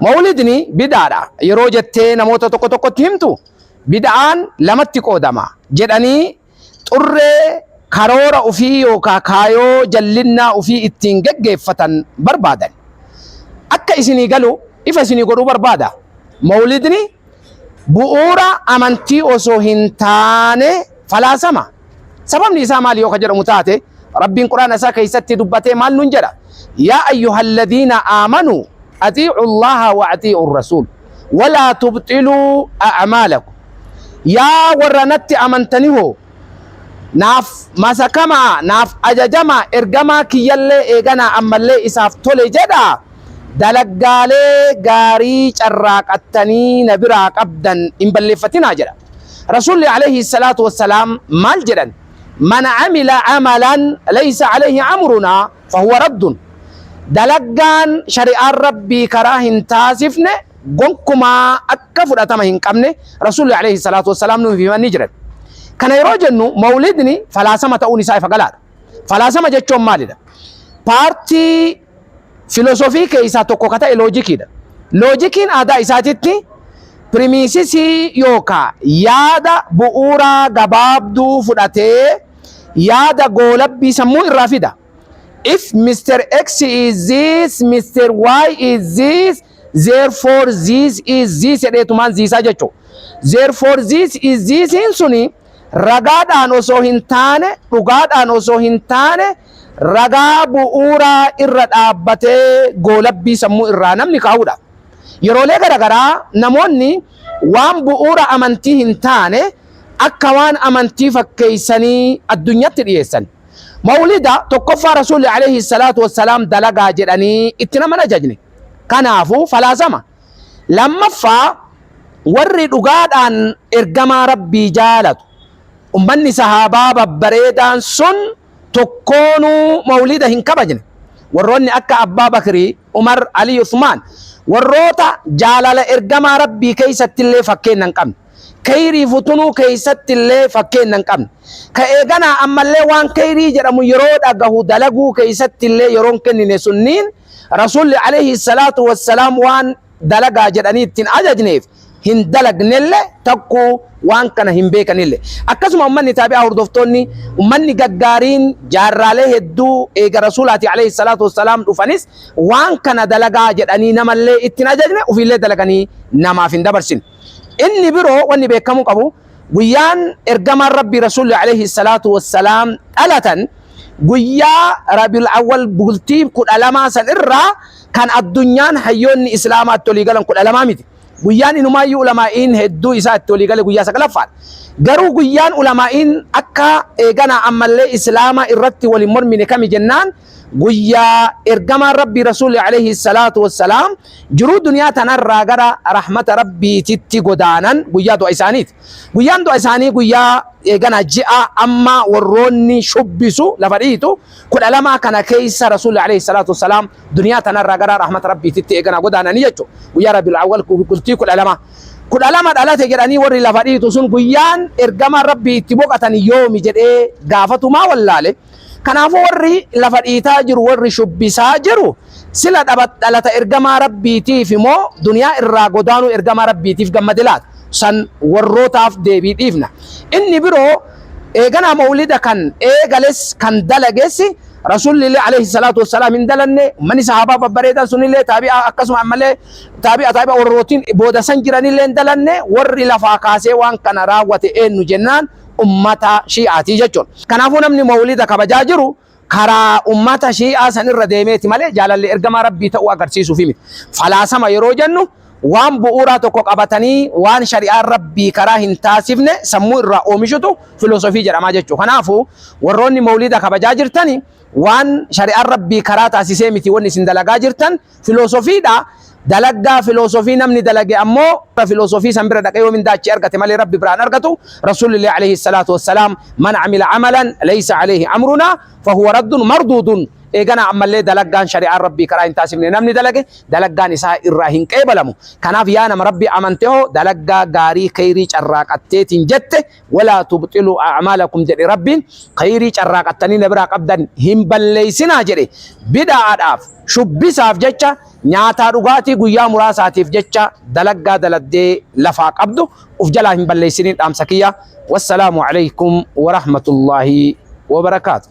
Mawlidni bid'aadha yeroo jettee namoota tokko tokkotti himtu, bid'aan lamatti qoodama jedhanii xurree karoora ufii yookaa kaayoo jallinnaa ufii ittiin geggeeffatan barbaadan. Akka isinii galu ifa isinii godhuu barbaada. Mawlidni bu'uura amantii osoo hin taane falaasama. Sababni isaa maali yoo ka jedhamu taate Rabbiin Qur'aana isaa keessatti dubbatee maal nun jedha? Yaa ayyuhalladiina aamanu atiicu Allaha wa atiicu rasuul walaa tubxiluu a'maalakum. Yaa warra natti amantani hoo Naaf masakamaa, naaf ajajamaa, ergamaa kiyyallee eeganaa ammallee isaaf tole jedhaa. Dalaggaalee gaarii carraaqattanii na biraa qabdan hin balleeffatinaa jedha. Rasuulli aleyhi salaatu wassalaam maal jedhan? Man amila amalan leysa aleyhi amrunaa. fahuwa raddun, dalaggaan shari'aan Rabbii karaa hin taasifne gonkumaa akka fudhatama hin qabne Rasuulli aleyhi salaatu wassalaam nuuf himanii jiran. Kana yeroo jennu mawlidni falaasama ta'uun isaa ifa galaadha. Falaasama jechoon maalidha? Paartii filosofii keessaa tokko ka ta'e loojikiidha. Loojikiin aadaa isaatitti pirimiisisii yookaa yaada bu'uuraa gabaabduu fudhatee yaada goolabbii sammuu irraa fida. If Mr. X is this, Mr. Y is this, therefore this is this jedheetumaan ziisaa jechuudha. Therefore this is this'n suni ragaadhaan osoo hin taane, dhugaadhaan osoo hin taane, ragaa bu'uuraa irra dhaabbatee goolabbii sammuu irraa namni kaa'udha. Yeroolee garaagaraa namoonni waan bu'uura amantii hin taane akka waan amantii fakkeessanii addunyatti dhiyeessan. Mawlida tokkoffaa Rasuulli alayhi salaatu wassalaam dalagaa jedhanii itti nama hin ajajne. Kanaafuu falaasama. Lammaffaa warri dhugaadhaan ergamaa Rabbii jaalatu. Ummanni sahaabaa babbareedaan sun tokkoonuu mawlida hin kabajne. Warroonni akka Abbaa Bakrii, Umar, Alii, Usmaan warroota jaalala ergamaa Rabbii keessattillee fakkeenna hin qabne. Keyriif utunuu keeysattillee fakkeenna hin qabne. Ka eeganaa ammallee waan keyrii jedhamu yeroo dhagahu dalaguu keeysattillee yeroo hin kennine sunniin Rasuulli aleyhi salaatu wassalaam waan dalagaa jedhanii itti hin ajajneef hin dalagnelle takkuu waan kana hin beekanille. Akkasuma ummanni taabi'aa hordoftoonni ummanni gaggaariin jaarraalee hedduu eega Rasuulaatii aleyhi salaatu wassalaam dhufanis waan kana dalagaa jedhanii namallee itti hin ajajne ufiillee dalaganii namaaf hin dabarsine. Inni biroo wanni beekamuu qabu guyyaan ergamaan Rabbii Rasuulli alayhi salaatu wassalaam dhalatan guyyaa Rabiul Awwal bultii kudha lamaa san irraa kan addunyaan hayyoonni Islaamaa itti olii galan kudha lamaa miti. Guyyaan inumaayyuu ulamaa'iin hedduu isaa itti olii gale guyyaa saglaffaan. Garuu guyyaan ulamaa'iin akka eeganaa ammallee Islaamaa irratti wal hin mormine kami jennaan guyyaa ergamaan rabbii rasuulli alayhi salaatu wassalaam jiruu duniyaa tanarraa gara rahmata rabbiititti godaanan guyyaa du'a isaaniiti guyyaan du'a isaanii guyyaa eegana ji'a amma warroonni shubbisu lafa dhiitu kudha lamaa kana keessa rasuulli alayhi salaatu wassalaam duniyaa tanarraa gara rahmata rabbiititti eegana godaananii jechu guyyaa rabiul awwal bultii kudha lama kudha lama dhalate jedhanii warri lafa dhiitu sun guyyaan ergamaan rabbii itti boqatan yoomi jedhee gaafatumaa wallaale Kanaafuu warri lafa dhiitaa jiru, warri shubbisaa jiru sila dhaba- dhalata ergamaa Rabbiitiif moo duniyaa irraa godaanuu ergamaa Rabbiitiif gammade laata? San warrootaaf deebii dhiifna. Inni biroo eeganaa mawlida kan eegales kan dalages Rasuulli alayhi salaatu wassalaam hin dalanne, ummanni sahaabaa babbareedaan sunillee taabi'aa akkasuma ammallee taabi'a taabi'a warrootiin booda san jiranillee hin dalanne, warri lafaa kaasee waan kana raawwate eennu jennaan? ummata shii'aatii jechuun. Kanaafuu namni mawlida kabajaa jiru karaa ummata shii'aa san irra deemeeti malee jaalalli ergamaa Rabbii ta'uu agarsiisuufii miti. Falaasama yeroo jennu waan bu'uuraa tokko qabatanii waan shari'aan Rabbii karaa hin taasifne sammuu irraa oomishutu filosofii jedhama jechuudha. Kanaafuu warroonni mawlida kabajaa jirtani waan shari'aan Rabbii karaa taasisee miti wanni isin dalagaa jirtan Filoosofiidha. Dalagaa filoosofii namni dalage ammoo warra filoosofii san bira dhaqee yoo mindaa achii argate malee Rabbi biraa hin argatu. Rasuulillee alayhi salaatu wassalaam man amila amalan laysa alayhi amrunaa fahuwa raddun marduudun eeganaa ammallee dalagaan shari'aan Rabbii karaa hin taasifne namni dalage dalagaan isaa irraa hin qeebalamu. Kanaaf yaa nama Rabbi amante hoo dalagaa gaarii kheeyrii carraaqatteetiin jette Walaa tubxiluu a'maalakum jedhe Rabbiin, khayrii carraaqattanii na biraa qabdan hin balleessinaa jedhe. Bida'aadhaaf, shubbisaaf jecha, nyaataa dhugaatii guyyaa muraasaatiif jecha dalaggaa dalagdee lafaa qabdu uf jalaa hin balleessiniin dhaamsa kiyya. Wassalaamu Aleykum Warahmatullaahi Wabarakaatuh.